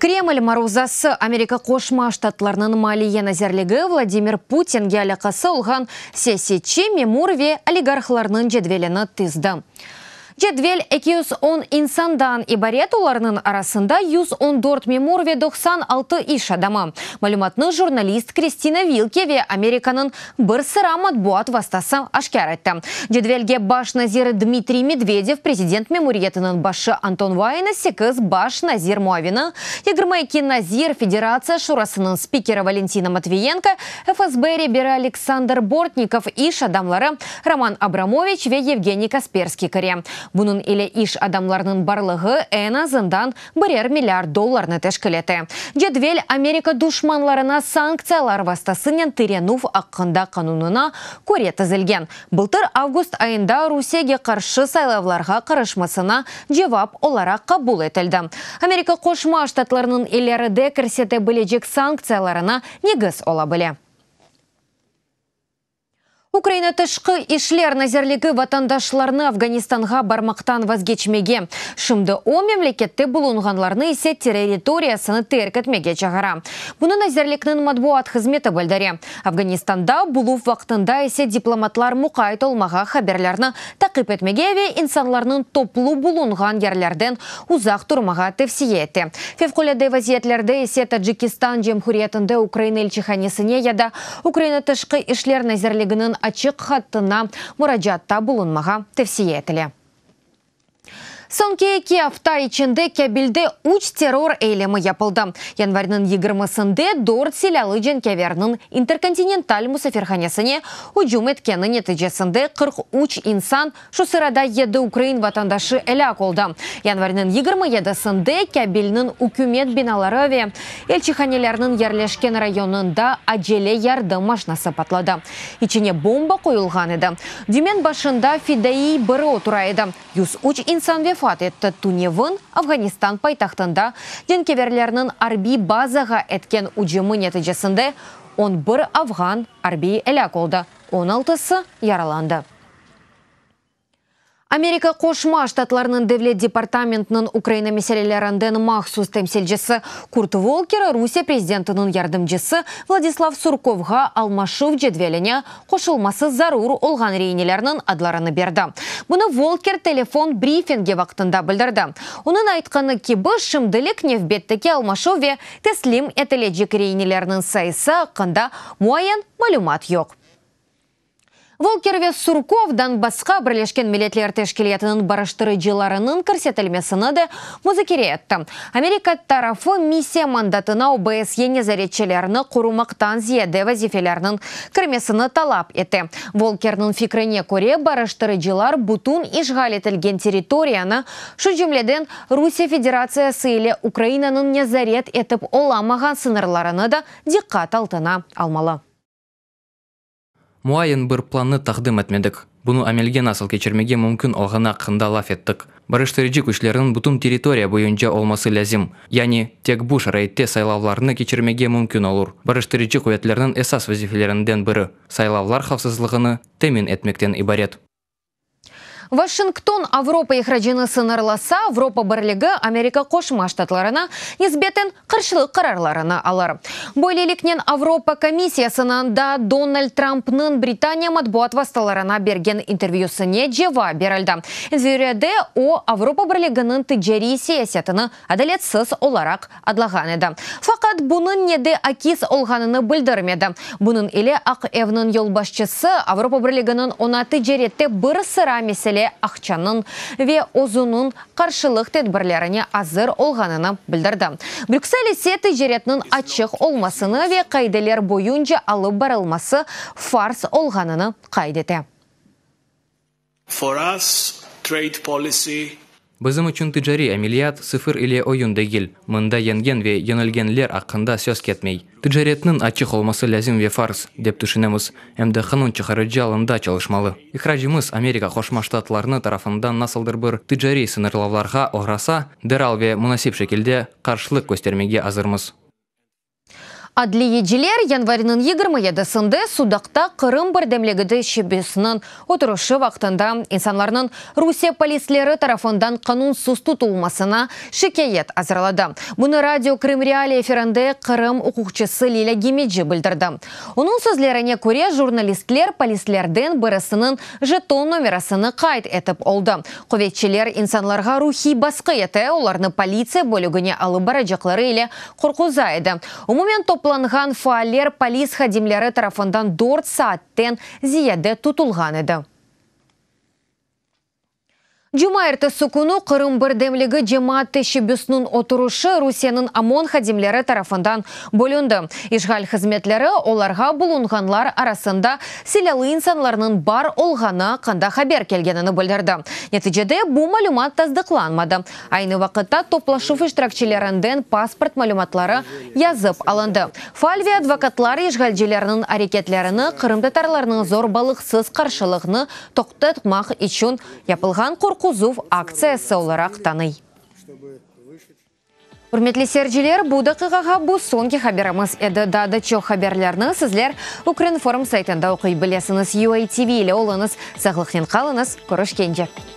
Kreml maruzası, Amerika Qoşma Ştatlarınıñ Maliye nazirligi Vladimir Putinge alâqası olğan siyasetçi, memur ve oligarhlarnıñ cedvelini tizdi. Cedvel eki yüz on insandan ibaret, olarnıñ arasında yüz on dört memur ve doqsan altı iş adamı, malümatnı jurnalist Kristina Vilke ve Amerikanıñ bir sıra matbuat vastası aşkâr etti. Cedvelge baş nazir Dmitriy Medvedev, prezident memuriyetiniñ başı Anton Vaina, sekiz baş nazir muavini, yigirmi eki nazir, Federatsiya Şurasınıñ spikeri Valentina Matviyenko, FSB reberi Aleksandr Bortnikov, iş adamları Roman Abramoviç ve Yevgeniy Kasperskiy kire. Bunıñ ile iş adamlarınıñ barlığı, eñ azından, birer milliard dollarnı teşkil ete. Cedvel, Amerika duşmanlarına sanktsiyalar vastasınen tirenüv aqqında qanunına köre tizilgen, bıltır avgust ayında Rusiyege qarşı saylavlarğa qarışmasına cevap olaraq qabul etildi. Amerika Qoşma Ştatlarınıñ ileride kirsete bilecek sanktsiyalarına negiz ola bile. Ukraina Tışqı işler nazirligi vatandaşlarnı Afganistanğa barmaqtan vazgeçmege, şimdi o memlekette bulunğanlarnı ise terriritoriyasını terk etmege çağıra. Bunı nazirlikniñ matbuat hızmeti bildire. Afganistanda buluv vaqtında ise diplomatlar muqayt olmağa, haberlerni taqip etmege ve insanlarnıñ toplu bulunğan yerlerden uzaq turmağa tevsiye ete. Fevqulâde vaziyetlerde ise Tacikistan Cemhuriyetinde Ukraina ilçihanesine ya da Ukraina Tışqı işler nazirliginiñ açıq hattına muracaatta bulunmağa tevsiye etile. Soñki eki afta içinde Kabilde üç terror eylemi yapıldı. Yanvarnıñ yigirmisinde dört silâlı cenkâverniñ Interkontinental musafirhanesine ücüm etkeni neticesinde qırq üç insan Şu sırada yedi ukrain vatandaşı elâk oldı. Yanvarniñ yigirmi yedisinde Kabilniñ ükümet binaları ve elçihanelerniñ yerleşken rayonında acele yardım maşnası patladı. İçine bomba qoyulğan edi. Dümen başında fidaiy biri otura edi. Yüz üç insan vefat etti, tünevin Afğanistan paytahtında cenkeverlerniñ arbiy bazağa etken ücümi neticesinde on bir afğan arbiy elâk oldı, on altısı yaralandı. Amerika Qoşma Ştatlarınıñ Devlet departamentiniñ Ukraina meselelerinden mahsus temsilcisi Kurt Volker Rusiye prezidentiniñ yardımcısı Vladislav Surkovğa almaşuv cedveline qoşulması zarur olğan reinelerniñ adlarını berdi. Bunı Volker telefon brifingi vaqtında bildirdi. Onıñ aytqanı kibi, şimdilik nevbetteki almaşuv ve teslim etilecek reinelerniñ sayısı aqqında muayyen malümat yoq. Volker ve Surkov dan basqa Birleşken Milletler Teşkilâtınıñ barıştırıcılarınıñ kirsetilmesini de muzakere etti. Amerika tarafı missiya mandatına OBSYe nezaretçilerni qorumaqtan ziyade vazifelerniñ kirmesini talap ete. Volkerniñ fikrine köre, barıştırıcılar bütün işğal etilgen territoriyanı, şu cümleden Rusiye Federatsiyası ile Ukrainanıñ nezaret etip olamağan sıñırlarını da diqqat altına almalı. Muayyen bir plannı taqdim etmedik. Bunı amelge nasıl keçirmege mümkün olğanı aqqında laf ettik. Biriştirici küçlerniñ bütün territoriya boyunca olması lâzim. Yani, tek bu şaraitte saylavlarnı keçirmege mümkün olur. Biriştirici quvetlerniñ esas vazifelerinden biri, saylavlar havfsızlığını temin etmekten ibaret. Washington Avropa ihracını sıñırlasa, Avropa Birligi Amerika Qoşma Ştatlarına nisbeten qarşılıq qararlarını alır. Böyleliknen, Avropa Komissiyasınıñ da Donald Trampnıñ Britaniya matbuat vastalarına bergen intervyüsine cevap berildi, intervyüde o, Avropa Birliginiñ ticariy siyasetini adaletsiz olaraq adlağan edi. Faqat bunıñ ne de akis olğanını bildirmedi. Bunıñ ile Aq evniñ yolbaşçısı Avropa Birliginiñ oña ticarette bir sıra mesele aqçanıñ ve özüniñ qarşılıq tedbirlerine azır olğanını bildirdi. Brüksel ise ticaretniñ açıq olmasını ve qaideler boyunca alıp barılması farz olğanını qayd ete. For us, trade policy. Bizim içün ticariy ameliyat sıfır ile oyun degil. Mında yengen ve yenilgenler aqqında söz ketmey. Ticaretniñ açıq olması lâzim ve farz, dep tüşünemiz, em de qanun çıqarıcı alında çalışmalı. İhracımız Amerika Qoşma Ştatlarını tarafından nasıldır bir ticariy sıñırlavlarğa oğrasa, deral ve munasip şekilde qarşılıq köstermege azırmız. Adliyeciler yanvarniñ yigirmi yedisinde sudaqta Qırım birdemligidi şebesiniñ oturışı vaqtında insanlarnıñ Rusiye polisleri tarafından qanunsız tutulmasına şikâyet azırladı. Bunı Radio Krım Reali efirinde Qırım uquqçısı Lilâ Gemeci bildirdi. Onıñ sözlerine köre, jurnalistler polislerden birisiniñ jeton nomerasını qayd etip oldı. Quvetçiler insanlarğa ruhiy basqı ete, olarnı politsiya bölügine alıp baracaqları ile Qorquzay edi. Umumen toplanğan faaller polis hadimleri tarafından dört saatten ziyade tutulğan edi. Cuma ertesi künü Qırım birdemligi cemaat teşebbüsiniñ oturışı Rusiyeniñ OMON hadimleri tarafından bölündi. İşğal hızmetleri olarğa bulunğanlar arasında silâlı insanlarnıñ bar olğanı aqqında haber kelgenini bildirdi. Neticede bu malümat tasdıqlanmadı. Aynı vaqıtta toplaşuv iştirakçilerinden pasport malümatları yazıp alındı. Faal ve advokatlar işğalcilerniñ areketlerini qırımtatarlarnıñ zorbalıqsız qarşılığını toqtatmaq içün yapılğan qorquzuv aktsiyası olaraq tanıy. Ürmetli seyirciler, bu daqiqağa bu soñki haberimiz edi. Daa da çoq haberlerni sizler Ukrinform saytında oquy bilesiñiz. UATV ile oluñız, sağlıqnen qalıñız, körüşkence!